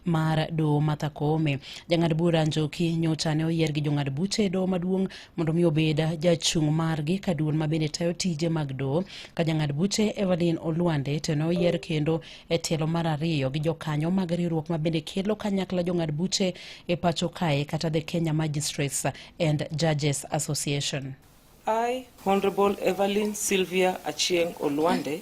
mar doho Martha Koome. Jang'ad bura Njoki nyocha ne oyier gi jong'ad buche e doho maduong' mondo mi obed jachung' margi ka duol ma bende tayo tije mag doho ka jang'ad buche Evelyn Olwande to ne oyier kendo e tielo mar ariyo gi jokanyo mag riwruok ma bende kelo kanyakla jong'ad buche e pacho kae kata the Kenya Magistrates and Judges Association. I, Honorable Evelyn Sylvia Achieng Olwande,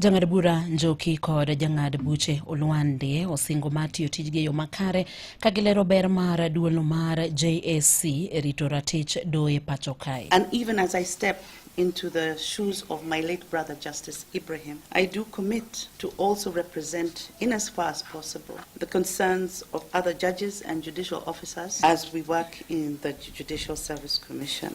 Jang'ad bura Njoki kod jang'ad buche Olwande osingo mar tiyo tijgi e yo makare ka gilero ber mar duolno mar JSC e rito ratich doye pacho kae. And even as I step into the shoes of my late brother Justice Ibrahim, I do commit to also represent in as far as possible the concerns of other judges and judicial officers as we work in the Judicial Service Commission.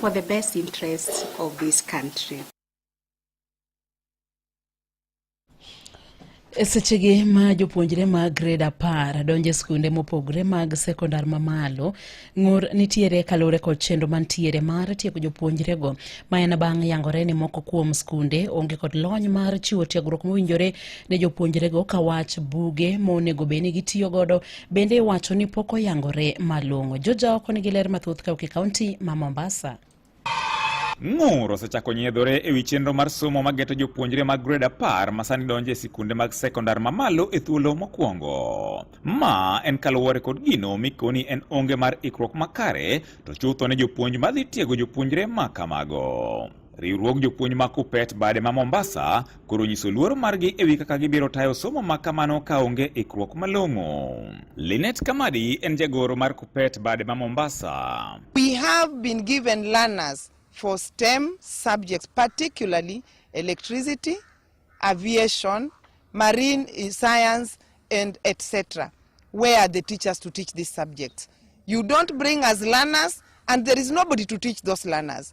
for the best interests of this country. E sechegi ma jopuonjre mag grade apar donjo e skunde mopogore mag sekondar mamalo ng'ur nitiere kaluwore kod chenro mantiere mar tieko jopuonjrego ma en bang' yangore ni moko kuom skunde onge kod lony mar chiwo tiegruok mowinjore ne jopuonjrego ka wach buge monego bed ni gitiyo godo Bende iwacho ni pok oyangore malong'o. Joja oko nigi ler mathoth kauki kaunti ma Mombasa. Ng'ur osechako nyiedhore e wi chenro mar somo mageto jopuonjre mag grade apar masani donjo e sikunde mag sekondar mamalo e thuolo mokwongo. Ma en kaluwore kod gino mikoni en onge mar ikruok makare to chutho ne jopuonj madhi tiego jopuonjre ma kamago. Riwruog jopuonj ma Kupet bade ma Mombasa koro nyiso luoro margi ewi kaka gibiro tayo somo ma kamano ka onge ikruok malong'o. Linet Kamadi en jagoro mar Kupet bade ma Mombasa. We have been given learners for STEM subjects particularly electricity, aviation, marine eh, science and etc. Where are the teachers to teach these subjects? You don't bring us learners and there is nobody to teach those learners.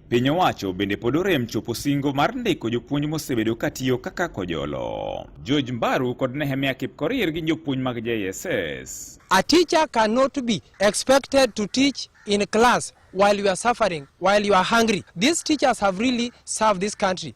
Piny owacho bende pod orem chopo singo mar ndiko jopuonj mosebedo katiyo kaka kojolo. George Mbaru kod Nehemia Kipkorir gin jopuonj mag JSS. A teacher cannot be expected to teach in class while you are suffering, while you are hungry. These teachers have really served this country.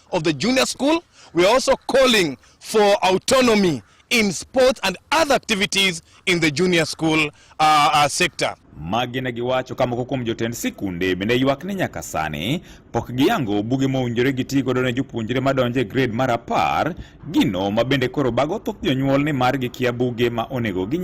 of the junior school. We are also calling for autonomy in sports and other activities in the junior school uh, uh, sector. magi ne giwacho ka moko kuom jotend sikunde bende ywak ni nyaka sani pok giyango buge mowinjore giti godo ne jopuonjre madonjo e grade mar apar gino ma bende koro bago thoth jonyuol ni mar gikia buge ma onego ginyie